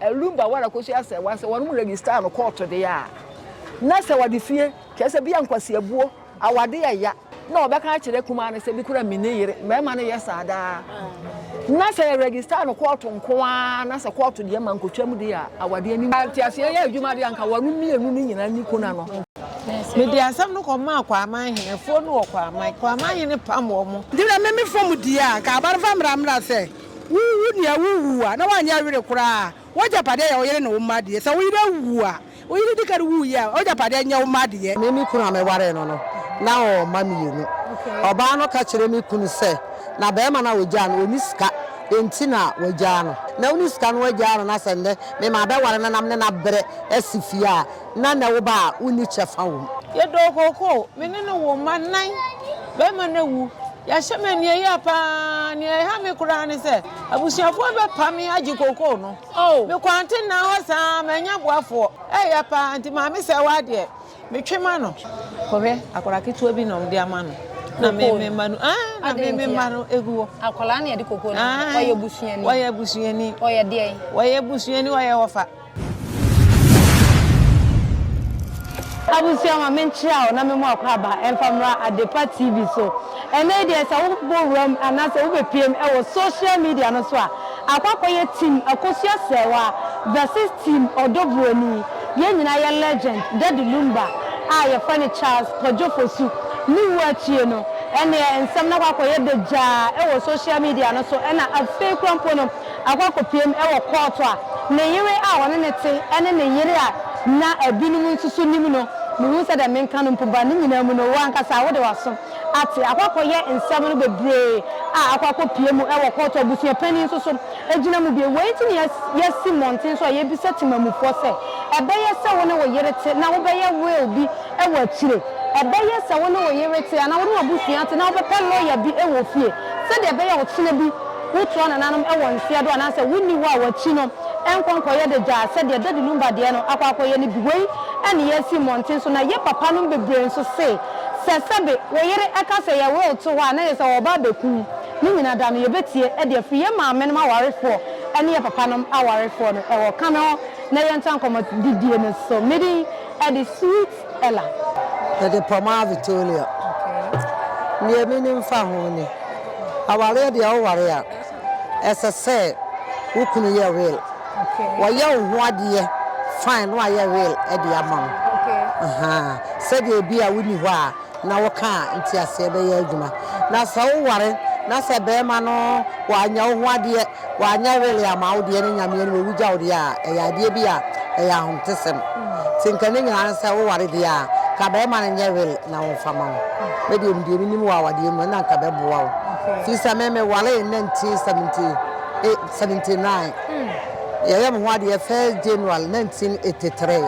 Ɛlum ba wara kosi asɛ wa sɛ wɔnom register no kɔɔto deɛ a na sɛ wɔde fie kyerɛ sɛ bia nkwasiabuo awade yɛ ya na wɔbɛka akyerɛ kumaa no sɛ bi kura mini yere mɛɛma no yɛ saa daa na sɛ yɛ register no kɔɔto nko ara na sɛ kɔɔto deɛ ma nkotwa mu deɛ a awade anim nteaseɛ yɛ adwuma deɛ anka wɔnom mmienu no nyinaa ni kuna no. Mede asɛm no kɔmaa Kwaman hene foɔ no wɔ Kwaman, Kwaman hene pam wɔn. Deɛ meme fam deɛ a anka abare fa mmra mmra sɛ. Wuwu nea wuwu a, na woanyɛ were koraa. W'agyapade yɛ wo yere ne wo mma de. Sɛ wo yere awu a, wo yere di kan wui a, w'agyapade nyɛ wo mma deɛ. Me ne me kunu a mewaree no no, na ɔwɔ mma mmienu. Ɔbaa no ka kyerɛɛ me kunu sɛ, na barima no a ɔgyaa no, ɔnni sika, enti na wagyaa no. Ná wonni sika na wagyaa no, na sɛ nnɛ mema abɛware no nam ne no abrɛ asi fie a, na nnɛ wo ba a wonni kyɛfa wom. Yɛdɔɔ kookoo, me ne no woo mma nnan. Barima no awu. Yɛahyɛ me aniɛyaa paa. Nea ɛha me koraa ne sɛ abusuafoɔ bɛpa me agye kookoo no. Oh. Mekwante nnaa hɔ saa ara, mannya boafoɔ. Ɛyɛ paa, nti maame sɛ wo adeɛ, metwe ma no. Kɔhwɛ akwadaa ketewa bi na wɔde ama no. Na me me mma no, ah, na me me mma no egu hɔ. Akwadaa na yɛde kookoo no ama. Ɔyɛ busuani. Ɔyɛ busuani. Ɔyɛ deɛ. Ɔyɛ busuani, ɔyɛ ɔfa. Abusua ma menkyerɛ wo na me mu akwaaba ɛmfa mmra Adepa TV so. Ɛnnɛ yi deɛ sɛ wo bɔ wuram anaasɛ wo bɛ piem wɔ social media no so a, akɔ akɔyɛ team Akosua Srɛwa versus team Ɔdɔ Buroni. Yɛn nyinaa yɛ legend Daddy Lumba a yɛfrɛ no Charles Kwadwo Fosu ne wuo akyie no ɛnneɛ nsɛm no akɔ akɔyɛ dagyaa wɔ social media no so ɛna afei koraa mpo no akɔ akɔpiem wɔ kɔɔto a ne yere a ɔne no te ne ne yere a na binom nso so nim no. Mehu sɛ deɛ menka no mpo ba. Ne nyinaa mu no, wo ankasa wode w'aso ate. Akɔ akɔyɛ nsɛm no bebree a akɔ akɔpie mu wɔ kɔɔto a abusua panin nso so gyina mu bie. Wei nti na yɛasi mmɔnten so a yɛrebisa temanmufoɔ sɛ, Ɛbɛyɛ sɛ wo ne wo yere te na wobɛyɛ will bi wɔ akyire? Ɛbɛyɛ sɛ wo ne wo yere te anaa wo ne w'abusua te na wobɛpɛ lɔya bi wɔ fie sɛdeɛ ɛbɛyɛ a ɔkyena bi Wotoa nananom wɔ nseɛ do anaasɛ wonni hɔ a wɔakyi no nkɔ nkɔyɛ de gyaa sɛdeɛ Dadi Numba deɛ no akɔ akɔyɛ no bi. Wei ne yɛasi mmɔnten so na yɛ papanom bebree nso se sɛ sɛbe wo yere ka sɛ yɛ will to hɔ a na yɛ sɛ wɔba abɛku wo ne nyina da no yɛbɛtie de afiri yɛ maamenom awarefoɔ ne yɛ papanom awarefoɔ no wɔ kame hɔ na yɛntoa nkɔmmɔdidie no so. Medin de Sweet. Ella. Mede Pomar Vitoria. Nea minim fa ho ni, Awareɛ deɛ woware a, ɛsɛ sɛ wo kunu yɛ will. Wayɛ wo ho adeɛ fine na wayɛ will de ama wo. Sɛdeɛ ebia wonni hɔ a. na wo ka a nti aseɛ bɛyɛ adwuma na sɛ wo ware na sɛ bɛɛma no wanya wo ho adeɛ wanya wele ama wo deɛ ne nyameɛ no wawu gya wo deɛ a ɛyɛ adeɛ bi a ɛyɛ ahontesɛm ti nka ne nyinaa sɛ wo ware deɛ a ka bɛɛma no nyɛ wele na wo nfa ma no me deɛ me deɛ me nim wɔ awadeɛ mu na nka bɛboa wo fi sɛ me me ware na nti 70 79 Yɛyɛ me ho adeɛ first January nineteen eighty three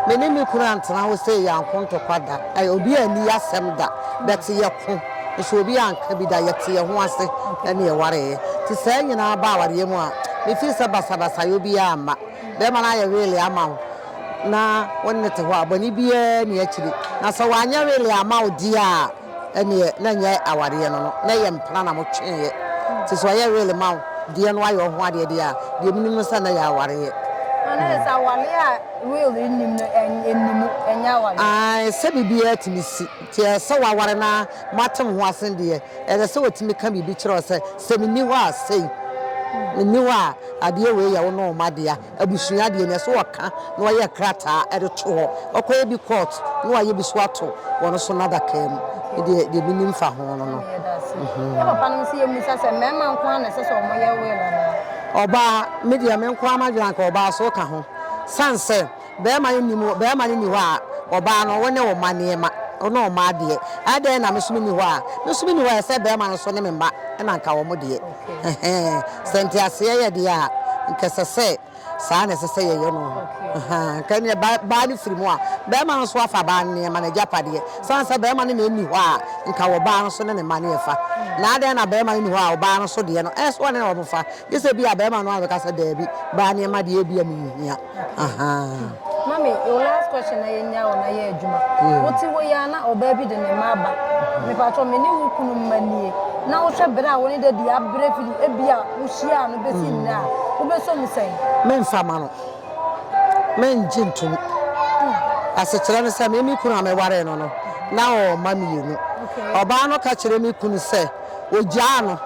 me ne me kunu antena hɔ sei yɛanko ntɔkwa da obi anni yɛasɛm da but yɛko nso obi anka bi da yɛte yɛn ho ase ɛne yɛwareeɛ nti saa nyinaa ba awareɛ mu a me feel sɛ basabasayɛ obiara mma bɛrima no ayɛ really ama wo na wo ne no te hɔ a bɔne biara nni akyiri na sɛ wanyɛ really ama wo deɛ a Ɛneɛ na ɛnyɛ awareɛ no no na ɛyɛ mpena na mo tweeɛ nti sɛ ɔyɛ real ma wo deɛ no ayɛ ɔho adeɛ deɛ a deɛ menim no sɛ na ɛyɛ awareɛ. Ah na ɛsɛ awareɛ a real nnim no ɛnni mu ɛnyɛ awareɛ. Ae sɛ biribiara tumi si nti ɛsɛ sɛ waware na moate mo ho ase deɛ ɛsɛ sɛ ɔtumi ka biribi kyerɛ wo sɛ sɛ menni hɔ a sei menni hɔ a adeɛ wei yɛ wo ne wo mma dea. Abusua deɛ neɛ sɛ ɔka na wayɛ krataa de to hɔ ɔkɔyɛ bi court na wayɛ bi so ato wɔn so nadakaa mu medeɛ deɛ menim fa ho no no. Na papa no nso yɛ musa sɛ mmarima nko ara na ɛsɛ sɛ wɔn yɛ will anaa. Ɔbaa medeɛ me nko ara madwene anka ɔbaa so ka ho sane sɛ barima no nni mu barima no nni hɔ a ɔbaa no wo ne wo mma nneɛma wo ne wo mma adeɛ ɛdɛn na me nso menni hɔ a me nso menni hɔ a ɛsɛ barima no nso ne me mma na anka wɔn deɛ. Ɛhɛn, sɛ nteaseɛ yɛ deɛ a, nka ɛsɛ sɛ saa na ɛsɛ sɛ yɛyɛ no. Ɛhɛn, nka ɛneɛ ba baa no firi mu a, barima no nso afa baa no nneɛma, n'agyapadeɛ. Sane sɛ barima no na ɛnni hɔ a, nka ɔbaa no nso ne ne mma no ɛfa. Na adɛn na barima no nni hɔ a ɔbaa no nso deɛ no, ɛnso ɔne wɔn fa? Gye sɛ ebia barima no ara bɛka sɛ, Daabi, baa nneɛma deɛ ebia menhia. Ahaa. Mami, your last question na yɛnya wo na yɛ adwuma. Yeah. Wote wo yɛ na ɔbaa bi de ne mma aba. Mepatɔ me ne wo kunu mma nie. Na wohwɛ bere a wo ne dadi abrɛ firi ebi a wohyia no bɛsi hmm. nnɛ a wobɛsɔ mu sɛn? Memfa ma no. Mengye ntom. Hmm. Asekyerɛ no sɛ me me kunu a mewaree no no na ɔwɔ mma mmienu. Ɔbaa no ka kyerɛ me kunu sɛ ogyaa no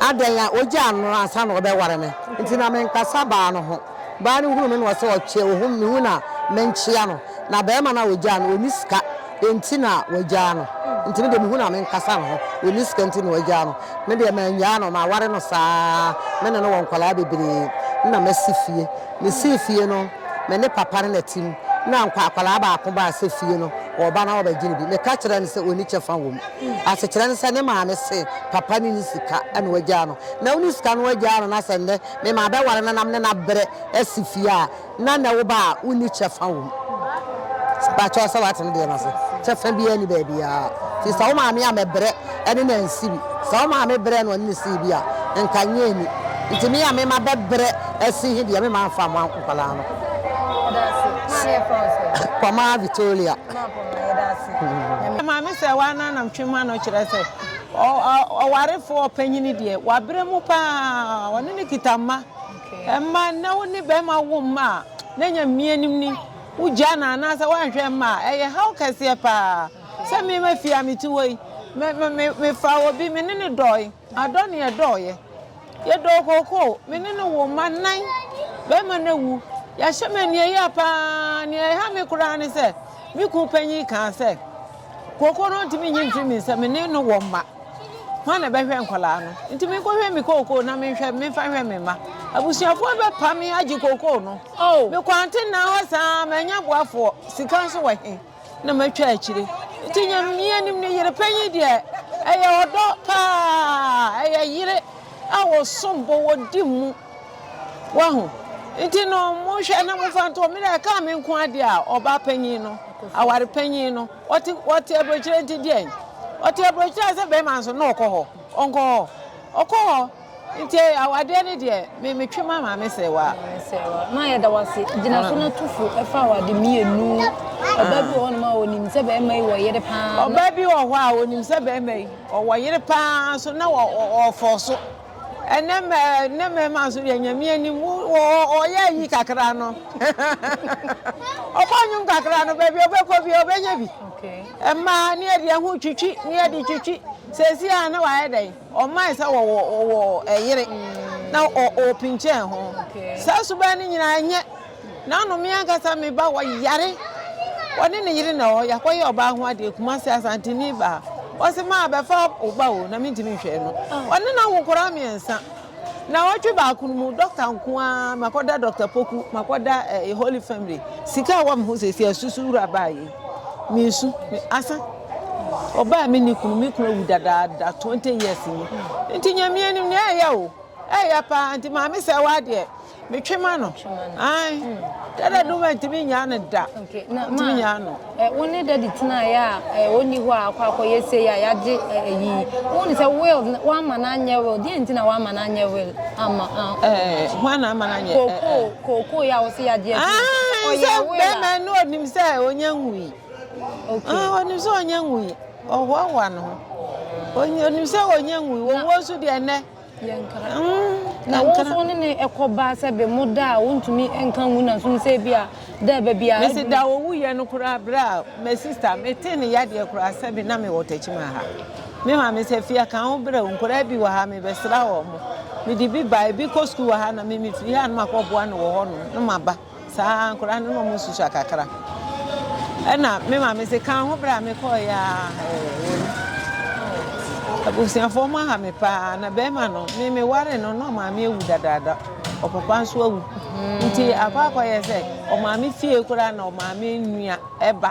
adɛn a ogyaa no ansa na ɔbɛware me nti na menkasa baa no ho. Baa no hunu me na ɔse ɔkyɛ ohum me hu na menkyea no na bɛɛma no a ɔgyaa no ɔni sika enti na wagyaa no nti me deɛ mehu no a menkasa ne ho ɔni sika nti na wagyaa no me deɛ manyaa no maware no saa me ne no wɔ nkwadaa bebree na masi fie mesii fie no me ne papa no na te mu na nkwa akwadaa baako baa sɛ fie no ɔba na ɔbɛgye no bi meka kyerɛ no sɛ ɔni kyɛfa wɔ mu asekyerɛ no sɛ ne maame se papa no ni sika na wagyaa no na ɔni sika no wagyaa no na sɛ nnɛ Me maa bɛware no na me ne no abrɛ asi fie a na n'awo ba a wonni kyɛfa wom. Bakyɛw sɛ wate ne deɛ no ase. Kyɛfa biara nni baabiara. Nti sɛ wo maame a mɛbrɛ ne no ansi bi. Sɛ wo maame brɛɛ no ɔne no sii bi a, nka nyɛ anni. Nti me a me ma bɛbrɛ asi he deɛ me ma mfa mmoa nkwadaa no. Poma Vitoria. Maame sɛ woa no a na metwe m'ano kyerɛ sɛ. Ɔwarefo ɔpanyin deɛ, wabrɛ mu pa ara. Ɔne no kita mma. Mma, nnɛ wo ne barima wo mma a, na ɛnyɛ mmea nim ni. Wogyaa no anaasɛ woanhwɛ mma a, ɛyɛ haw kɛseɛ pa ara. Sɛ me ma fie a mete hɔ yi, mefaa obi, me ne no dɔɔe. Adɔ ne yɛdɔɔeɛ. Yɛdɔɔ kookoo. Me ne no woo mma nnan. Barima no awu. Yɛahyɛ me aniɛyaa pa ara. Nea ɛha me koraa ne sɛ, me kunu panyin kaa sɛ, Kookoo no ntumi nyi mfiri me nsam, me ne no wɔ mma. Hwan na ɛbɛhwɛ nkwadaa no? Nti menkɔhwɛ me kookoo na menhwɛ, memfa nhwɛ me mma. Abusuafoɔ bɛpa me agye kookoo no. Oh. Me kwantenaa hɔ saa, mannya boafoɔ, sika nso wɔ he na matwa akyire. Nti nyɛ mmea nim ne yere panyin deɛ ɛyɛ ɔdɔ paa, ɛyɛ yere a wɔsom bo, wɔdi mu. Wahu? Nti no, monhwɛ na momfa nto hɔ. Me deɛ ɛkaa me nko adeɛ a, ɔbaa panyin no, aware panyin no, ɔte ɔte aburokyerɛ nti deɛn? Ɔte aburokyerɛ sɛ bɛrima nso na ɔkɔ hɔ. Ɔnkɔ hɔ. Ɔkɔ hɔ. Nti awadeɛ no deɛ, me metwe ma maame sɛ wa. Ma yɛda wo ase. Gyina so na tu fo ɛfa awade mmienu. Ɔbaa bi wɔ hɔ nom a ɔnim sɛ bɛrima yi wɔ yere paa. Ɔbaa bi wɔ hɔ a ɔnim sɛ bɛrima yi ɔwɔ yere paa nso na ɔfɔ so. ɛnɛ mɛ ɛnɛ mɛma nso deɛ nyame anim ɔyɛ ayi kakra no ɔkɔ nwom kakra no baabi ɔbɛkɔ bi ɔbɛnya bi ɛmaa ne ɛde ɛho twitwi ne ɛde twitwi sɛsi a na wayɛ dɛn ɔmaa sɛ wɔwɔ wɔwɔ ɛyere na ɔpinkyɛn ho saa suban no nyinaa nyɛ N'ano me ankasa me ba ɔyare ɔne ne yere na ɛwɔ hɔ yɛakɔyɛ ɔbaa ho adeɛ Kumasi Asanteni baa ɔse maa bɛfa wo ba o na mentumi nhwɛ no ɔne n'awo nkɔraa mmiɛnsa na ɔtwe baako no mu dɔkta nko ara makɔda dɔkta poku makɔda eh, eh, holy family sika a wɔm ho sɛsi asusu wura baa yi mesu asa ɔbaa me ne kunu me kunu awu dadaada 20 years ni nti nyamea nim ne ɛyɛ o ɛyɛ paa nti maame sɛ wɔ adeɛ Metwe ma no. Ae. Dada no mantumi nyaa no da. Mantumi nyaa no. Wo ne dadi tenaeɛ a ɔnni hɔ a akɔ akɔyɛ sei a yɛagye ayi. Wo ne sɛ will woama no anyɛ will deɛ nti na woama no anyɛ will ama. Hwan na ama no anyɛ? Kookoo kookoo yɛ a wɔsi yɛagye ayi. Ɔyɛ will a. Bɛrima no onim sɛ ɔnyɛ nwui. Onim sɛ ɔnyɛ nwui. Ɔhoahoa no ho. Onim sɛ ɔnyɛ nwui. Wɔwuo nso deɛ nnɛ. Yɛnkra. Mm, na yɛnkra. Wɔn ne ne ɛkɔ ba sɛ bɛ mo da a wɔntumi nka nwu na nso sɛ bi a da bɛ bi a. Mesi da owu yɛ no koraa bere a my sister me te ne yadeɛ koraa sɛ bi na me wɔ tɛkyima ha. Me maame sɛ fia kan ho bere nkoraa bi wɔ ha me bɛsra wɔn mo. Me de bi ba ebi kɔ sukuu wɔ ha na me me firi ha no ma kɔ boa no wɔ hɔ no no ma ba. Saa nkwadaa no na wɔn nso sua kakra. Ɛna me maame se kan ho berɛ a mekɔɔ yɛ a abusuafoɔ mo aha me paa na bɛrima no me me ware no na ɔmaame awu dadaada ɔpapa nso awu nti akɔ akɔyɛ sɛ ɔmaame fie koraa na ɔmaame nua ɛba.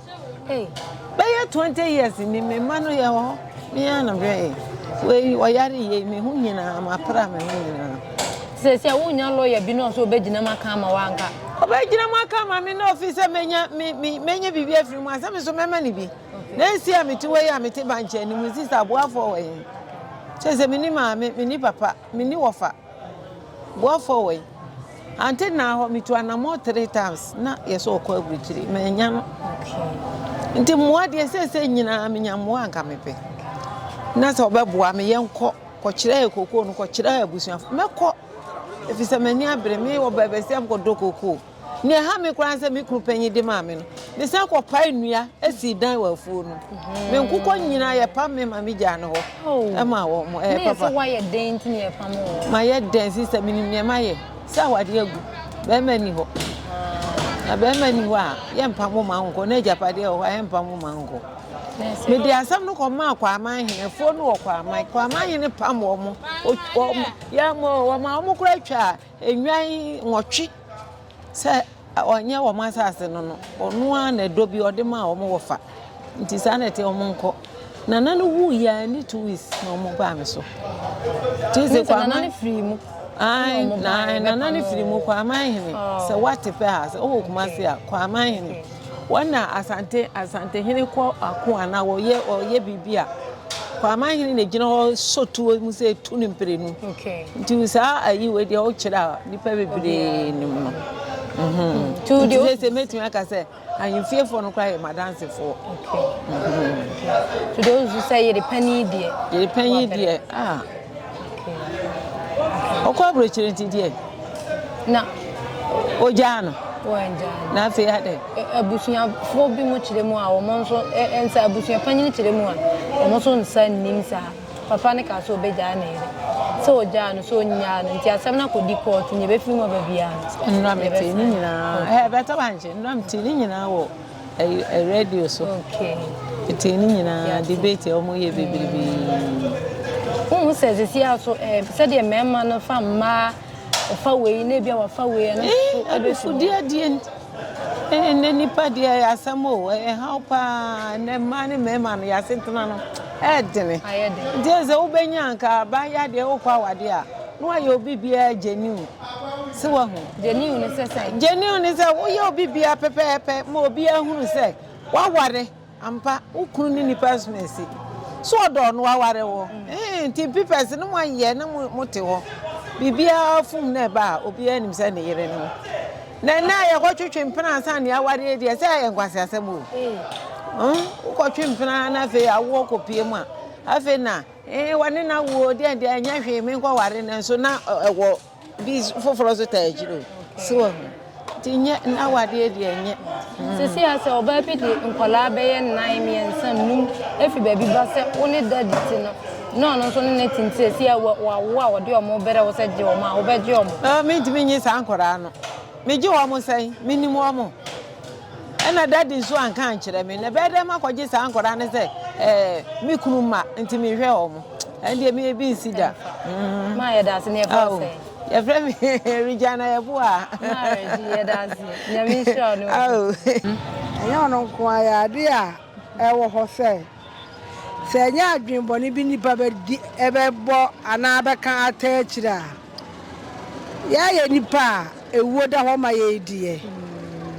Hey, bɛyɛ twenty years ni me mma no yɛ hɔ me ara na bɛyɛ wei ɔyare yie me ho nyinaa mapra me ho nyinaa. sɛ sɛ wonya lɔya bi na ɔsɛ ɔbɛgyina mu aka ama wanka ɔbɛgyina mu aka ama me na ɔfi sɛ menya me me menya biribi afiri mu asɛ me so mɛma ne bi na ɛsi a mete hɔ yi a mete bankyɛ anim sista aboafoɔ wɔ he kyɛ sɛ menni maame menni papa menni wɔfa Go forward until now hɔ metu anamɔ three times na yɛ sɛ ɔkɔ aburukyiri ma ɛnya no nti mmoa deɛ sɛsɛ nyinaa menya mmoa nka mepɛ na sɛ ɔbɛboa me yɛnkɔ kɔkyerɛ yɛ kokoo no kɔkyerɛ yɛ abusuafo mɛkɔ ɛfiri sɛ m'ani abere me wɔ baabi sɛ mkɔdɔ kokoo Nea ɛha me koraa ne sɛ me kunu panyin de maa me no, mesan kɔpae nnua sii dan wɔ afuo no mu. Mhm. Me nkokɔ nyinaa yɛpam me ma megyaa no hɔ oh. ma wɔn mo. Ɛyɛ papa. Na wayɛ dɛn nti na yɛpam wɔn? Mayɛ dɛn sista menim nea mayɛ sɛ awadeɛ agu bɛrima ni hɔ. Ah. Na bɛrima ni hɔ a yɛmpam wo ma nkɔ na agyapadeɛ wɔ hɔ a yɛmpam wo ma nkɔ. mede asɛm no kɔmaa kwaaman hene afuo no wɔ kwaaman kwaaman hene pam wɔn wɔn yɛn wɔn a wɔn kora atwa a Nnwan nwɔtwe sɛ ɔnyɛ wɔn asase no no, ɔno ara na ɛdɔ bi ɔde maa wɔn wɔfa. Nti saa na ɛte wɔn nkɔ. Nana no wuu yɛ a ɛne two weeks na wɔn baa me so. Ti sɛ kwaman. Nana no firi mu. Ae, na nana no firi mu kwaman hene. Sɛ wate pɛ a, sɛ ɔwɔ kuma se a, kwaman hene. Wɔn na Asante Asantehene kɔ ako anaa ɔyɛ ɔyɛ biribi a, Kwaaman hene na egyina hɔ sɔ tuo mu sɛ tu ne mprenu. Nti saa ayi wei deɛ ɔkyerɛ a nipa bebree nim no. Nti sɛ sɛ mɛtumi aka sɛ ahemfiefoɔ no koraa yɛ madansefoɔ. To those who sɛ yere panyin deɛ. Yere panyin deɛ ah. ɔkɔ aburokyire nti deɛ na ogyaa no na afei adɛ abusuafoɔ bi mu kyerɛ mu a wɔn nso nsa abusua panyin kyerɛ mu a wɔn nso nsa nnim saa papa ne kaa sɛ ɔbɛgyaa ne yere sɛ ɔgyaa no sɛ ɔnyaa no nti asɛm no akɔdi kɔɔto ne ɛbɛfiri mu aba biara no nnura mete ne nyinaa ɛbɛtɔ bankye nnura mete ne nyinaa wɔ Radio so tee ne nyinaa debate a wɔyɛ bebrebe. Wohu sɛ sisi a so sɛdeɛ mmarima no fa mmaa ɔfa wei na ebi a wafa wei ɛno so ɛbɛfu deɛ deɛ ɛnɛ nipa deɛ ɛyɛ asɛm o ɛhaw paa ɛnɛ mmaa ne mmarima no yɛasetena no ɛɛdene nti sɛ wobɛnya nka abaayɛ adeɛ wokɔ awadeɛ a na wayɛ obi biara gyeniw sɛ wahu genuine ne sɛ sɛ genuine ne sɛ woyɛ obi bia pɛpɛɛpɛ ma obi ahunu sɛ waware ampa wo kunu ne nipa asoma asi so ɔdɔ no waware wo mm. nti pipɛs no moayɛ na mote hɔ biribiara fom na ɛba a obiara nim sɛ ne yere no na ɛnɛ a yɛkɔtwetwe mpena ansa ne awareɛ deɛ sɛ ɛyɛ nkwase asɛm o mm. wokɔtwe mpena na afei awoɔ kɔpie mu a afei na Ee, wɔne no awo o, deɛ deɛ ɛnyɛ hwee, menkɔware no nso na ɛwɔ bi foforɔ nso taa akyiri o. So wɔ ho. Nti nyɛ na wadeɛ deɛ nyɛ. Sisi a sɛ ɔbaa bi de nkwadaa bɛyɛ nnan, mmiɛnsa, nnum efi baabi ba sɛ wo ne daddy ti no, na ɔno nso ne ne ti nti sisi a wawo a ɔde wɔn brɛ wo sɛ gye wɔn a, wobɛgye wɔn? Ɛɛ, mentumi nye saa nkwadaa no. Megye wɔn sɛn? Menim wɔn. Ɛna daddy nso anka ankyerɛ me. Na ɛbɛyɛ dɛn makɔgye saa nkwadaa no sɛ ɛɛ me kunu mma nti mehwɛ wɔn. Ɛn deɛ me ebi nsi da. Mm. Maa yɛ daase na yɛfrɛ wo sɛ. Yɛfrɛ me Regina Yɛboa. Maa Regina yɛ daase. Nyame nhyira wo ne wo. Ɛnyɛ ɔno nko ara yɛ ade a ɛwɔ hɔ sɛ sɛ ɛnyɛ adwene bɔne bi nipa bɛdi ɛbɛbɔ anaa bɛka ata akyire a. Yɛyɛ nnipa a ewuo da hɔ ma yɛn deɛ,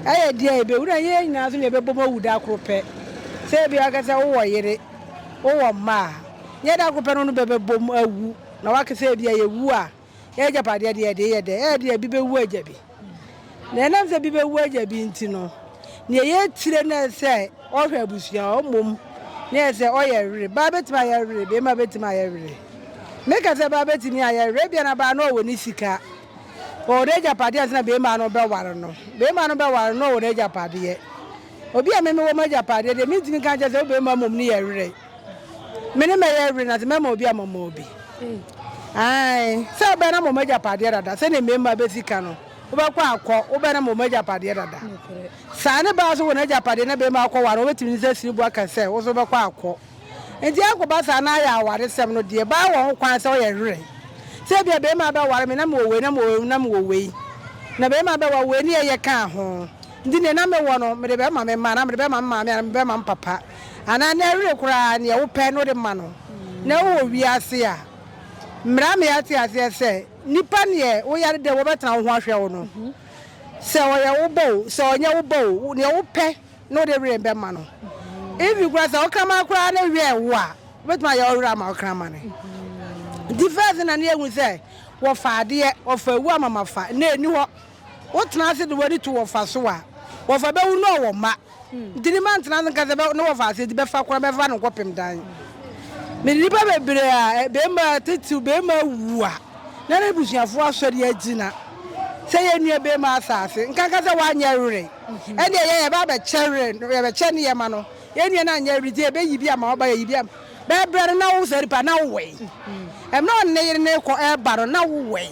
ɛyɛ deɛ a ɛbɛwu na yɛn nyinaa nso na yɛbɛbom awu da koro pɛ. Sɛ ebia woka sɛ wowɔ yere, wowɔ mma a, nyɛ da koro pɛ na wo ne bɛ bɛbom awu na woaka sɛ ebia yɛwu a, yɛn agyapadeɛ deɛ yɛde yɛ dɛn? Ɛyɛ deɛ ebi bɛwu agya bi. Na ɛnam sɛ bi bɛwu agya bi nti no, nea ɛyɛ tire no yɛ sɛ ɔhwɛ abusua hɔ mmom na yɛ sɛ ɔyɛ were. Baa bɛtumi ayɛ were, barima bɛtumi ayɛ were. Meka sɛ baa bɛtumi ayɛ were, ebia na baa no ɔwɔ ne sika, ɔwɔ n'agyapadeɛ ansa na barima no bɛware no. Barima no bɛware no na ɔwɔ n'agyapadeɛ. Obi a me mewɔ m'agyapadeɛ deɛ mentumi nka nkyɛ sɛ wo barima mmom no yɛ were. Me ne mɛyɛ were na dze mɛma obi a mɔma obi. Ae, sɛ wobɛyɛ na mɔma agyapadeɛ dada, sɛdeɛ mmarima bɛsi ka no, wobɛkɔ akɔ, wobɛyɛ na mɔma agyapadeɛ dada. Saa ne baa so wɔ n'agyapadeɛ na barima akɔ ware, wɔbɛtumi ne sɛ siribu aka sɛ wo nso wobɛkɔ akɔ. Nti akɔba saa na ayɛ awaresɛm no deɛ, baa wɔ ho kwan sɛ ɔyɛ were. Sɛ ebia barima bɛware me na mewɔ wei na mewɔ wei na mewɔ wei, na barima bɛware wei ne ɛyɛ kaa ho, nti deɛ na mewɔ no mede bɛma me mma anaa mede bɛma me maame anaa mede bɛma me papa. anaa na ɛwere koraa nea wopɛ na wode ma no, na wowɔ wiase a, mmra ma yɛate aseɛ sɛ, nnipa neɛ woyare dɛ wɔbɛtena wo ho ahwɛ wo no, sɛ ɔyɛ wo ba o, sɛ ɔnyɛ wo ba o, nea wopɛ na wode were bɛma no. Even koraa sɛ ɔkraman koraa ne werɛ wo a, wobɛtumi ayɛ ɔwerɛ ama ɔkraman no. Nti first na ne yɛhu sɛ wɔfa adeɛ, wɔfa awu amamafa, na ɛni hɔ. Wotena ase de w'ani to wɔfa so a, wɔfa bɛwu na ɔwɔ mma. Nti ne mma ntena ase nka sɛ ne wɔfa ase nti bɛfa koraa mɛfa no nkɔpem dan. Mede nnipa bebree a barima titiriw barima awu a na n'abusuafoɔ asɔre agyina sɛ yɛn nua barima asa ase nka nka sɛ wanyɛ were. Ɛnneɛ yɛn yɛba abɛkyɛ were no yɛbɛkyɛ ne yɛma no. Yɛn nua no anyɛ were nti yɛbɛyi bi ama waba yɛyi bi ama. Bɛyɛ berɛ no na wo Zɛdi ba na wo wɛn. Mmerɛ ɔne ne yere no rekɔ reba no na wo wɛn.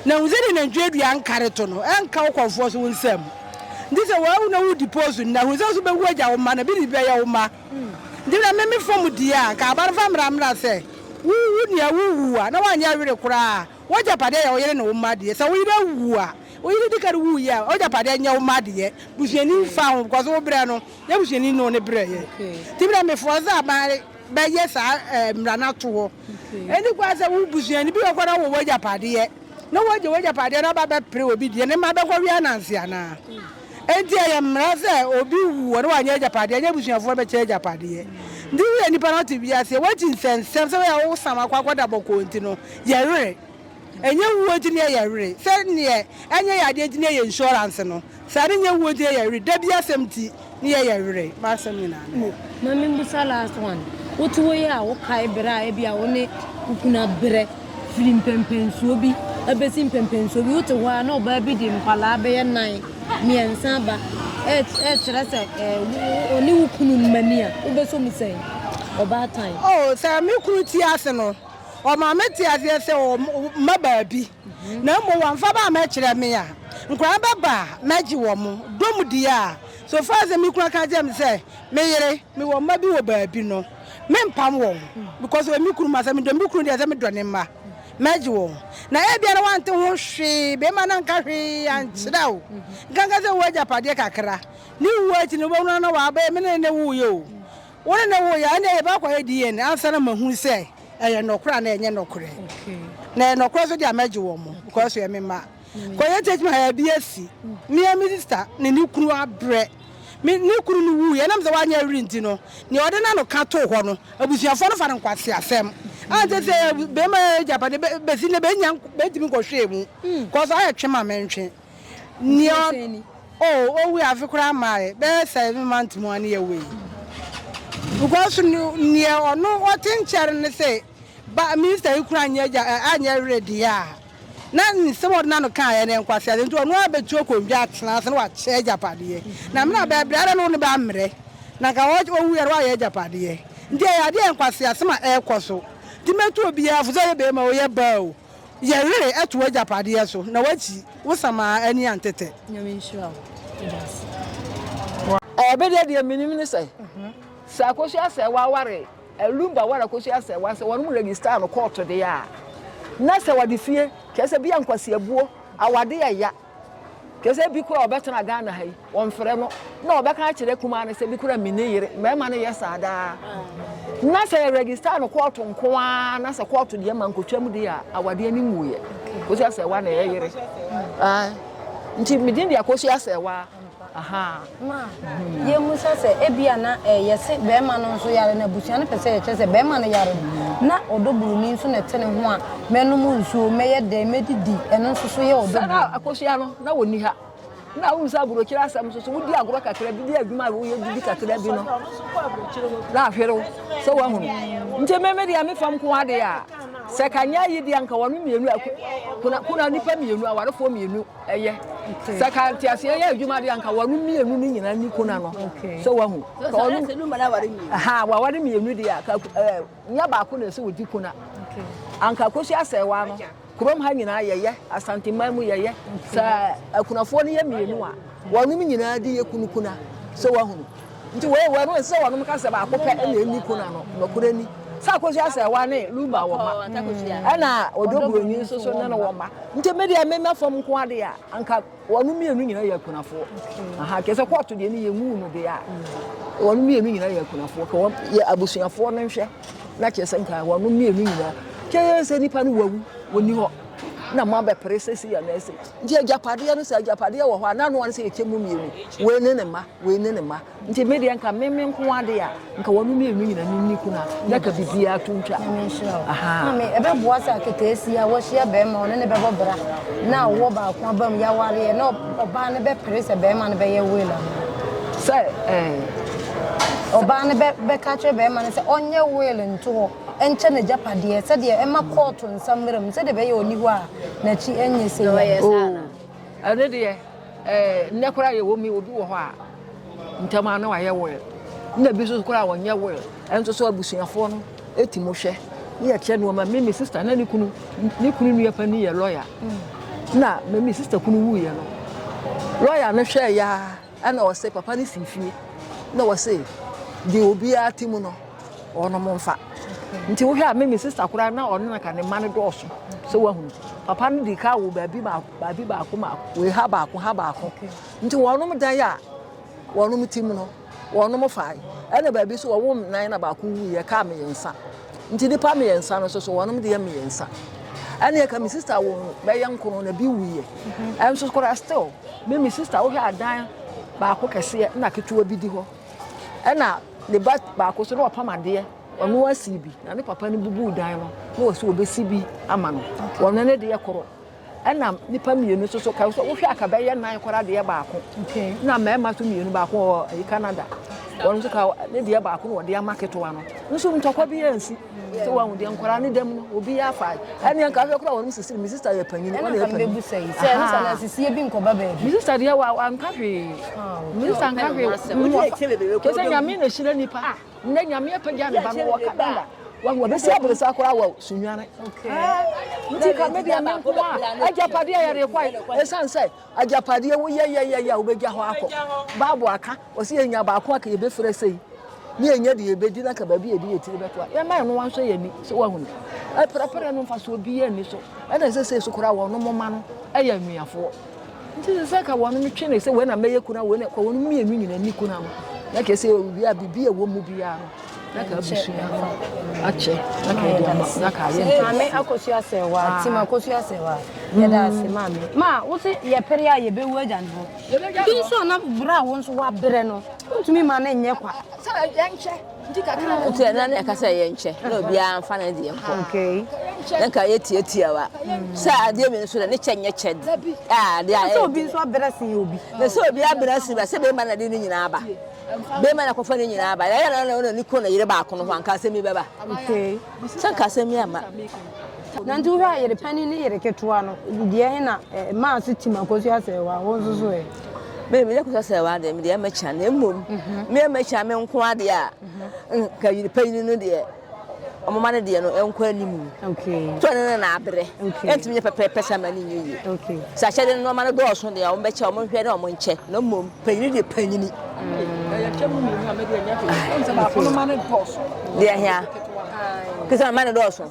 Na hu sɛdeɛ nantwie dua nkare to no nka wo kɔmfoɔ so wo nsa mu. Nti sɛ wawu na wo diposu no na hu sɛ wo so bɛwu agya wo mma na biribi bɛyɛ wo mma. Nti na me me fam deɛ a nka aba no fa mmra mmra sɛ wo wu nea wo wu a na wanyɛ were koraa a wo agyapadeɛ yɛ wo yere ne wo mma deɛ. Sɛ wo yere awu a wo yere di kan wuiɛ a wo agyapadeɛ nyɛ wo mma deɛ. Busuani mfa ho because wo berɛ no Yɛn busuani no ne brɛɛ yɛn. Nti na me force sɛ ma bɛ yɛ saa eh, mmara no ato hɔ. Ɛni kwan sɛ wo busuani bi bɛkɔ na wɔ w'agyapadeɛ, na wagye w'agyapadeɛ na aba bɛpere obi deɛ ne mma bɛkɔ wea nanse anaa? Ɛnti ɛyɛ mmara sɛ obi wu hɔ na wanyɛ agyapadeɛ, ɛnyɛ abusuafoɔ no bɛkyɛ agyapadeɛ. Nti woyɛ nnipa na wote wiase, woakyi nsɛnsɛm sɛ woyɛ wo sam akɔ akɔda bɔkɔɔ nti no, yɛ were. Ɛnyɛ wuo nti ne yɛyɛ were, sɛ neɛ ɛnyɛ yɛ adeɛ nti ne yɛyɛ insurance no. Sɛ ade nyɛ wuo nti yɛyɛ were. Da bi asɛm nti ne yɛyɛ were. M'asɛm nyinaa ne yɛyɛ. Ma memmisa last one. Wote hɔ yi a wokae bere a ebia wo ne wo kunu abrɛ firi mpɛnpɛnsoɔ bi bɛsi mpɛnpɛnsoɔ bi. Wote hɔ ara na ɔbaa bi de nkwadaa bɛyɛ nnan, mmiɛnsa aba rekyerɛ sɛ ɔne wo kunu mma ni a, wobɛsɔ mu sɛn? Ɔbaatan. Oh, sɛ me kunu te ase no, ɔma mete aseɛ sɛ ɔwɔ mma baabi. na mmom wɔamfa ba ammɛkyerɛ me a, nkwadaa no bɛba a, mɛgye wɔn. Dɔm di a, so far as sɛ me kunu ka kyerɛ me sɛ, me yere, mewɔ mma bi wɔ baabi no, mempam wɔn because ɔyɛ me kunu. Ma sɛ medɔ me kunu deɛ, sɛ medɔ ne mma, mɛgye wɔn. Na ebia na wante ho hwee, barima no anka hwee ankyerɛ wo, nkanka sɛ wowɔ agyapadeɛ kakra. Ne wuo akyi no, wobɛhunu ara na waba, ɛyɛ me ne no na ɛwoeɛ o. Wo ne no woeɛ a, nneɛ yɛbɛkɔyɛ DNA ansa na mahu sɛ ɛyɛ nɔkorɛ anaa ɛnyɛ nɔkorɛ. Na ɛyɛ nɔkorɛ nso deɛ a, mɛgye wɔn because wɔyɛ me mma. Kɔyɛ take my eye bi asi. Me ara me sister ne ne kunu abrɛ. Me, ne kunu no wuiɛ, ɛnam sɛ wanyɛ awere nti no, deɛ ɔde n'ano ka too hɔ no, abusuafoɔ no fa no nkwaseasɛm. A nkyɛ sɛ barima agyapadeɛ, bɛ, bɛsi nnɛ bɛnnya, bɛntumi nkɔhwɛɛ mu because ayɛ twe ma mentwe. Nea ɔte ni. Oh owui afe koraa maayɛ bɛyɛ seven month mu ane yɛ wei because neɛ ɔno ɔte nkyɛre ne sɛ ba minister yi kura anyɛ gya anyɛ werɛ deɛ a na nsɛm ɔde na no kaa yɛ ne nkwasi ade nti ɔno abɛtu akondwa atena ase na wakyɛ agyapadeɛ na mena bɛɛ brɛ na no ne bɛ ammerɛ na nka ɔwu yɛ no wayɛ agyapadeɛ nti ɛyɛ adeɛ nkwasi asɛm a ɛrekɔ so nti mɛtu obiara fo sɛ ɔyɛ bɛrima o yɛ baa o Yɛ were ɛto w'agyapadeɛ so na w'akyi wo samaa ani antetɛ. Nyame nhyira wo Dase. Ɛɛ me deɛ deɛ menim ne sɛ sɛ Akosua Sɛɛwa ware Lumba ware Akosua Sɛɛwa sɛ wɔnom register no kɔɔto deɛ a na sɛ wɔde fie kyerɛ sɛ bia nkwasiabuo awadeɛ ya. Kyerɛ sɛ bi koraa ɔbɛtena Ghana ha yi, wɔmfrɛ no na ɔbɛka akyerɛ kumaa no sɛ bi koraa me ne yere, mmarima no yɛ saa daa. Na sɛ yɛregister no kɔɔto nko ara na sɛ kɔɔto deɛ ma nkotwam deɛ a awadeɛ no mmuiɛ. Kɔsi asɛwa na ɛyɛ yere. Nti medin deɛ kɔsi asɛwa. Aha ma yɛhu sɛ sɛ ebia na eh, yɛse bɛrima no nso yare na abusua no pɛ sɛ yɛkyerɛ sɛ bɛrima no yare no, na ɔdɔ buroni nso na ɛte ne ho a, mɛnom nsuo, mɛyɛ dɛn, mɛdidi, ɛno nso so yɛ ɔdɔ Sɛ na akosua no na wɔnni ha, na wohu sɛ aburokyire asɛm nso so, wodi agorɔ kakra bi, di adwuma a woyɛ didi kakra bi no, na ahwere wo sɛ woahunu. Nti me me deɛ me fam ko adeɛ a, sɛ ka nyɛ ayi deɛ anka wɔnom mmienu a, kuna, kuna nipa mmienu, awarefoɔ mmienu, ɛyɛ sɛ ka nteaseɛ yɛ adwuma de anka wɔn mmienu no nyinaa ni ko na no sɛ wahu ha waware mmienu deɛ a ka ɛɛ nyɛ baako na ɛsɛ wɔdi ko na anka kosi asɛ wa no kurom ha nyinaa yɛyɛ asanteman mu yɛyɛ sɛ akunafoɔ no yɛ mmienu a wɔn nyinaa de yɛ kunu kuna sɛ wahu. Nti wei wɔ no sɛ wɔnom ka sɛ baako pɛ na ɛnni ko no ano. Nɔkorɛ ni, sɛ Akosua Asɛɛwa ne Luba wɔ mma, ɛna Odwo Buroni nso so ne no wɔ mma. Nti me deɛ, me mma fam nko ara deɛ a, anka wɔnom mmienu nyinaa yɛ akunafoɔ. Aha, kɛ sɛ kɔɔto deɛ ne yɛmuu no deɛ a, wɔnom mmienu nyinaa yɛ akunafoɔ. Kɛ wɔn, yɛ abusuafoɔ no nhwɛ, na kyerɛ sɛ nka wɔnom mmienu nyinaa. Kɛ sɛ nipa no wawu, ɔnni hɔ, na moabɛpere sɛ sei anaa sei. Nti agyapadeɛ no sɛ agyapadeɛ wɔ hɔ a na noa no sɛ yɛkyɛ mu mmienu wei ne ne mma wei ne ne mma nti me deɛ nka meme nko ade a nka wɔn mmienu nyina no nni kuna na ka biribiara to ntwa maame ɛbɛboa sɛ aketeesi a wɔhyia bɛrima ɔne ne bɛbɔ bra na ɔwɔ baako aba mu yɛawareɛ na ɔbaa no bɛpere sɛ bɛrima no bɛyɛ wela sɛ ɔbaa no bɛka kyerɛ bɛrima no sɛ ɔnyɛ wela nto hɔ nkyɛ n'agyapadeɛ, sɛdeɛ ɛmma kɔɔto nsa mmra mu, sɛdeɛ ɛbɛyɛ ɔnni hɔ a n'akyi renyɛ sɛ yea. O, ɛno deɛ, eh, nnɛ koraa yɛwɔ mu yi, obi wɔ hɔ a, ntɛm ara na wayɛ will, na ebi nso koraa wɔnyɛ will, ɛnso so abusuafoɔ no ti mu hwɛ, na yɛkyɛ nnoɔma. Me, me sista, na ne kunu, ne kunu nua panin yɛ lɔya, na me, me sista kunu wuiɛ no, lɔya no hwɛeɛ ara Ɛna ɔse papa no fii fie na ɔse deɛ obiara te mu no ɔnom mfa nti wohwɛ a me me sista koraa na ɔno na ka ne mma no dɔɔso sɛ wahunu papa no di ka wo baabi baako baabi baako baako wei ha baako ha baako nti wɔnom dan a wɔnom te mu no wɔnom fae ɛna baabi so wɔwom nan na baako wuiɛ kaa mmiɛnsa Nti nnipa mmiɛnsa no soso wɔnom deɛ mmiɛnsa. Ɛneɛ ka me sista wo bɛyɛ nkono na bi wuiɛ. Ɛnso mhm. koraa still me me sista wohwɛ adan baako kɛseɛ na ketewa bi di hɔ. Ɛna ne ba baako so na ɔpam adeɛ ɔno asi bi na ne papa no bubu dan no na ɔsi ɔbɛsi bi ama no. Wɔno ne deɛ koro. Ɛna nnipa mmienu nso so ka so wohwɛ aka bɛyɛ nan koraa deɛ baako na mmarima nso mmienu baako wɔ ayi Canada wɔn nso ka ne deɛ baako na wɔde ama ketewa no nso ntɔkwa bi ansi sɛ wɔn deɛ nkwaraa ne dɛm no obi afa ɛne nka ahwɛ koraa wɔn sisi mi sista yɛ panyin wɔn yɛ panyin ɛna sɛ sɛ ɛno sɛ na sisi bi nkɔba baabi mi sista deɛ wa wa nka hwee mi sista nka hwee kɛsɛ nyame na ehyira nipa. Ndɛ Nyame apagya ne ba no wɔ Canada. Wahu, ɔbɛsi abolesa koraa wɔ Sunyani. Nti ka me deɛ me nko a agyapadeɛ a yɛde kɔe, ɛsiane sɛ agyapadeɛ woyɛ yɛyɛyɛ a wobɛgya hɔ akɔ. Bible aka, ɔse yɛnya baako a ka yɛbɛfira sei ne yɛnya deɛ yɛbɛdi na ka baabi yɛde yɛtiri bɛto a yɛma ɛno wansɔ yɛn ani sɛ wahu no. Ɛprɛprɛ no mfasoɔ biara nni so. Ɛna ɛsɛ sɛ so koraa wɔnom ma no yɛ anuafoɔ. Nti sɛ sɛ ka wɔn twe ne sɛ wei na mɛyɛ kuna wei na ka wɔn mmienu nyina ni kuna no na kɛ sɛ obi a biribi a ɛwɔ mu biara no na ka abusua no akyɛ na ka ɛde ama na ka ayɛ ntɛm. Maame akɔsu asɛ wa ah. ti ma akɔsu asɛ wa yɛda mm. ase maame ma wo se yɛpere a yɛbɛwu agya no hɔ bi nso a na berɛ a wo nso wabrɛ no wontumi ma no nyɛ kwa sɛ yɛnkyɛ Nti ɛnna na ɛka sɛ yɛnkyɛ na obiara mfa ne deɛ nkɔ. Na nka yɛ tiatiawa. Sɛ adeɛ mmienu so dɛ ne kyɛ nyɛ kyɛ de. A adeɛ a ɛyɛ. Sɛ obi nso abena sin obi. Na sɛ obi abena sin ba sɛ bɛrima na de ne nyinaa ba. Bɛrima na kɔfa ne nyinaa ba. Yɛyɛ na na ɔna ne kɔn na yere baako no ho anka asɛm yi bɛba. Okay. Sɛ nka asɛm yi amma. Na nti wohwɛ a yere panin ne yere ketewa no deɛ he na ɛmaa so tim akosua asɛewaa wo nso so ɛ. Me mede akosua asɛewaa deɛ mede ɛma kya na mmom me ɛma kya me nko adeɛ a nka yere panin no deɛ ɔmo ma no deɛ no ɛnkɔ anim nti ɔne no na abrɛ ɛntumi nyɛ pɛpɛɛpɛ saa ma ne nyɛ yie sɛ akyɛde no nneɛma no dɔɔso deɛ ɔmo bɛkyɛ ɔmo nhwɛ ne ɔmo nkyɛ na mmom panyini deɛ panyini deɛ hia kisa mma ne dɔɔso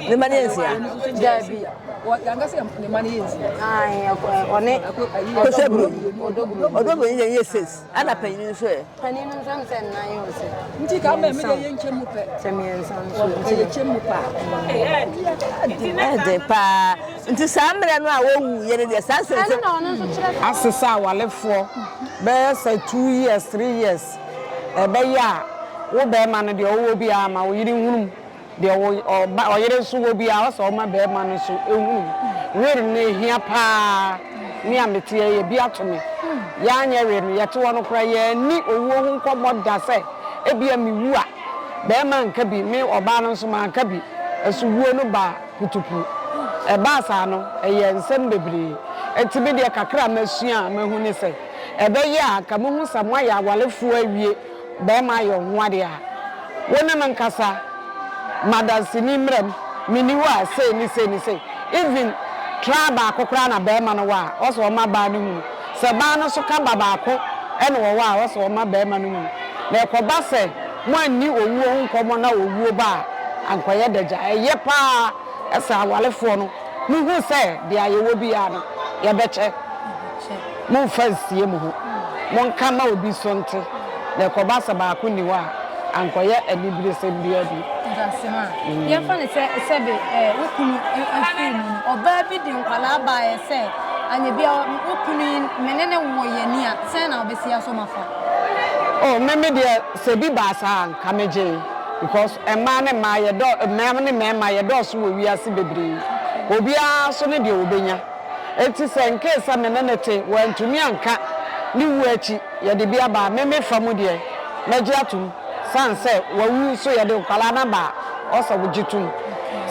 ne mma ne yɛ nsia daabi yɛnka sɛ ne mma ne yɛ nsia ɔne kosɛburo ɔdɔburo ne yɛ six ɛna panyin nso ɛ panyin nso ɛm sɛ nnan yɛ ɔsɛ nti ka mɛ mede yɛ nkyɛ mu pɛ sɛ mmiɛnsa nso ɛyɛ kyɛ mu paa ɛde paa nti saa mmerɛ no a wɔwu yɛ ne deɛ saa sɛ asesa awalefoɔ bɛyɛ sɛ two years three years ɛbɛyɛ a wo barima no deɛ ɔwɔ biara ma wo yere nhunu mu, deɛ wo ɔba ɔyere nso wɔ biara ɔsɛ ɔma barima no nso hunu mu. Wer no ɛhia paa, me a meteɛ yi ɛbi ato me, yɛanyɛ wer no yɛte hɔ no koraa yɛanni owuo ho nkɔmmɔ da sɛ ebia mewu a barima nka bi, me ɔbaa no nso manka bi, nso wuo no ba putupu. Ɛbaa saa no ɛyɛɛ nsɛm bebree, enti me deɛ kakra a masua a mahu ne sɛ, Ɛbɛyɛ a anka mohu sɛ moayɛ awarefoɔ awie, barima ayɛ wo ho ade a, wo ne no nkasa, madanseni mmram, menni hɔ a sei ne sei ne sei, even trial baako koraa na barima no wɔ a, ɔsɛ ɔma baa no hunu, sɛ baa no nso ka ba baako na ɔwɔ a, ɔsɛ ɔma barima no hunu, na ɛkɔba sɛ moanni owuo ho nkɔmmɔ na owuo ba a, anka ɔyɛ dagya. Ɛyɛ pa ara sɛ awarefoɔ no, mohu sɛ deɛ yɛwɔ biara no, yɛbɛkyɛ. Mommfa nnsie mo ho. Monka mma obi so nte, na ɛkɔba sɛ baako nni hɔ a, ankɔyɛ aniberesɛm biara bi. Dase ma. Yɛmfa no sɛ sɛbe wo kunu afiri mu no, ɔbaa bi de nkwadaa baeɛ sɛ anyɛ biara wo kunu yi me ne no wɔ yɛ ni a, sɛn na wobɛsi aso ma fa? Oh, me me deɛ sɛ bi baa saa a anka megyee because mmaa ne mmaa yɛdɔɔ, mmaa ne mmarima yɛdɔɔso wɔ wiase bebree. Obiara nso ne deɛ ɔbɛnya. Enti sɛ nkee sɛ me ne no te, wantumi anka ne wuo akyi, yɛde bi aba a, me me fa mu deɛ, mɛgye atom. Sane sɛ wawu nso, yɛde nkwadaa no aba a, ɔsɛ wogye tom.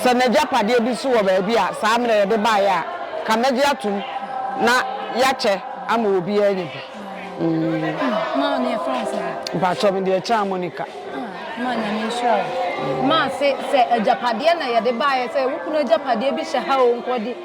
Sɛ n'agyapadeɛ bi nso wɔ baabi a, saa mmerɛ yɛde baeɛ a, ka mɛgye atom na yɛakyɛ ama obiara anya bi. Maa ne yɛfrɛ wo sɛn? Mpakyɛw, me deɛ Kyaa Monica. Ah, maa Nyame nhyira wo. Maa se sɛ agyapadeɛ na yɛde baeɛ, sɛ wo kunu agyapadeɛ bi hyɛ ha o, nkɔde.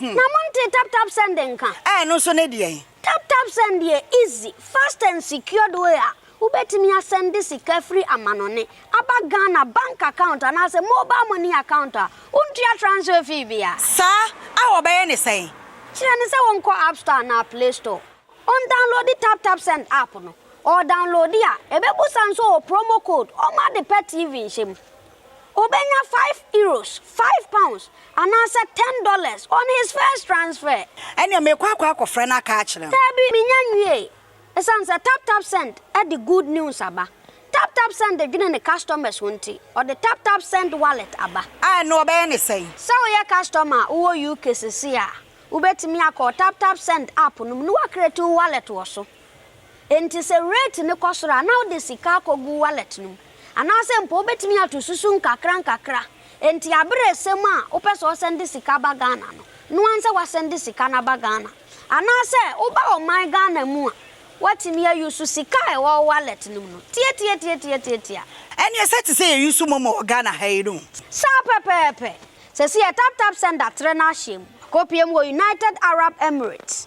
Na montee tap tap send nka? Ɛɛ ɛno nso ne deɛn? Tap tap send yɛ easy, fast and secured way a wobɛtumi asɛnde sika firi amanɔne aba Ghana bank account anaasɛ mobile money account a wontua transfer fee biara. Saa a wɔbɛyɛ ne sɛn? Kyerɛ no sɛ wɔnkɔ app store anaa play store, ɔndownloadi tap tap send app no, ɔɔdownloadi a ɛbɛbusa nso ɔɔ promo code ɔmma ade pa TV nhyɛ mu. Obenya five euros, five pounds, anaasɛ ten dollars on his first transfer. Ɛnneɛ meekɔ akɔ akɔfrɛ no aka akyerɛ no. Daabi, mennya nwiei. Esiane sɛ TapTapSend de good news aba, TapTapSend dwene ne customers ho nti, ɔde TapTapSend Wallet aba. A, ɛnneɛ wɔbɛyɛ no sɛn? Sɛ woyɛ customer a wowɔ UK seesei a, wubetumi akɔ TapTapSend app no mu na woacreate wo wallet wɔ so. Enti sɛ rate no kɔ soro a, na wode sika akɔgu wallet no mu. Anaasɛ mpo wobɛtumi ato susu nkakrankakra. Enti aberɛ resɛm a wopɛ sɛ ɔsɛnde sika ba Ghana no, noa nsɛ wasɛnde sika no aba Ghana. Anaasɛ woba ɔman Ghana mu a, woatumi a use sika a ɛwɔ wo wallet no mu no. Tiatiatiatiatiatia. Ɛneɛ sɛ te sɛ yɛ use momo wɔ Ghana ha yi no. Saa pɛpɛɛpɛ. Sɛsi yɛ taptapsend atrɛ no ahyɛm. Akɔpie mu wɔ United Arab Emirates.